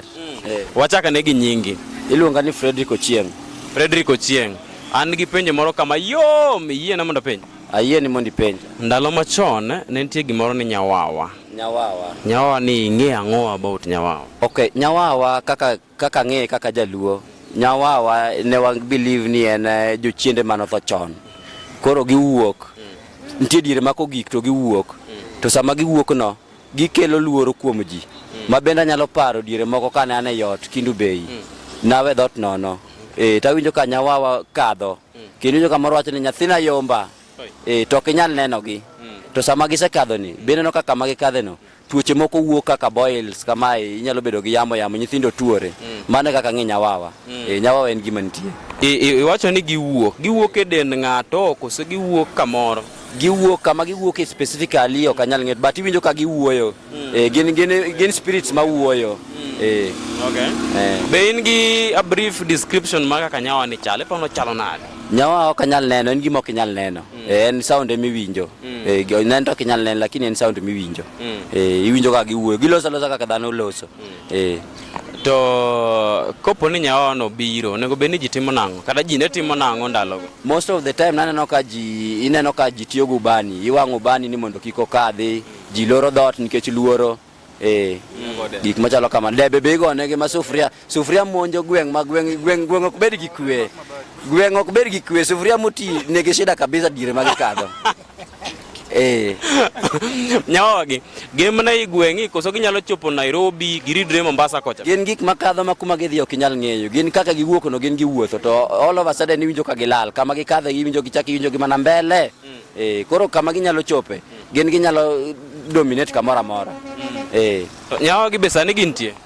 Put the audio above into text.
Mm. Eh. Wachaka ne gi nyingi. Iluonga ni Frederick Ochieng. Frederick Ochieng. An gi penjo moro kama yom yie na mondo penjo. Ayie ni mondo ipenj. Ndalo machon ne nitie gimoro ni nyawawa. Nyawawa. Nyawawa ni ing'e ang'o about nyawawa? Okay, nyawawa kaka kaka ng'e kaka jaluo. Nyawawa ne wa believe ni en eh, jochiende mano tho chon. Koro giwuok. Mm. Nitie diere mako gik to giwuok. Mm. To sama giwuok no Gikelo luoro kuom ji. Ma bende anyalo paro diere moko kane an e ot Kindu Bay. Mm. Nawe dhot nono. Eh, tawinjo ka nyawawa kadho. Mm. Kendo winjo kamoro wacho ni nyathina yomba. Eh, to ok inyal nenogi. Mm. To sama gisekadho ni, be neno kaka ma gikadhe no, tuoche moko wuok kaka boils kamae, inyalo bedo gi yamo yamo, nyithindo tuore. Mm. Mano e kaka ng'e nyawawa. Mm. Eh, nyawawa en gima nitie. I- i- Iwacho ni giwuok. Giwuok e dend ng'ato, koso giwuok kamoro? giwuok kama giwuok e specifically ok anyal ng'eyo but iwinjo ka giwuoyo mm. eh, gin, gin, gin spirits ma wuoyo mm. eh. okay. eh. be in gi a brief description ma kaka nyawa ni chalo ipono chalo nade nyawa ok anyal neno en gima ok inyal neno mm. eh, en sound ema iwinjo mm. eh, neno to ok inyal neno lakini en sound emiwinjo mm. eh, iwinjo kaka giwuoyo giloso alosa kaka dhano loso mm. eh. To kopo ni nyawa no biro, onego bed ni ji timo nang'o? Kata ji ne timo nang'o ndalogo? Most of the time naneno ka ji ineno ka ji tiyo gi ubani, iwang'o ubani ni mondo kik okadhi, ji loro dhoot nikech luoro. Eh, gik machalo kama. Debe be igone gi ma sufuria, sufuria monjo gweng' ma gweng' gweng' gweng' ok bed gi kwe. Gweng' ok bed gi kwe, sufuria moti nigi shida kabisa dire ma gikadho. Eh. Nyawagi, gin mana i gweng'i koso ginyalo chopo Nairobi giridre Mombasa kocha? Gin gik makadho ma kuma gidhi ok inyal ng'eyo. Gin kaka giwuok no gin giwuotho to all of a sudden iwinjo ka gilal. Kama gikadhe iwinjo gichak iwinjo gi mana mbele. Mm. Eh, koro kama ginyalo chope, mm. gin ginyalo dominate kamoro amora. Mm. Eh. Nyawagi be sani gintie?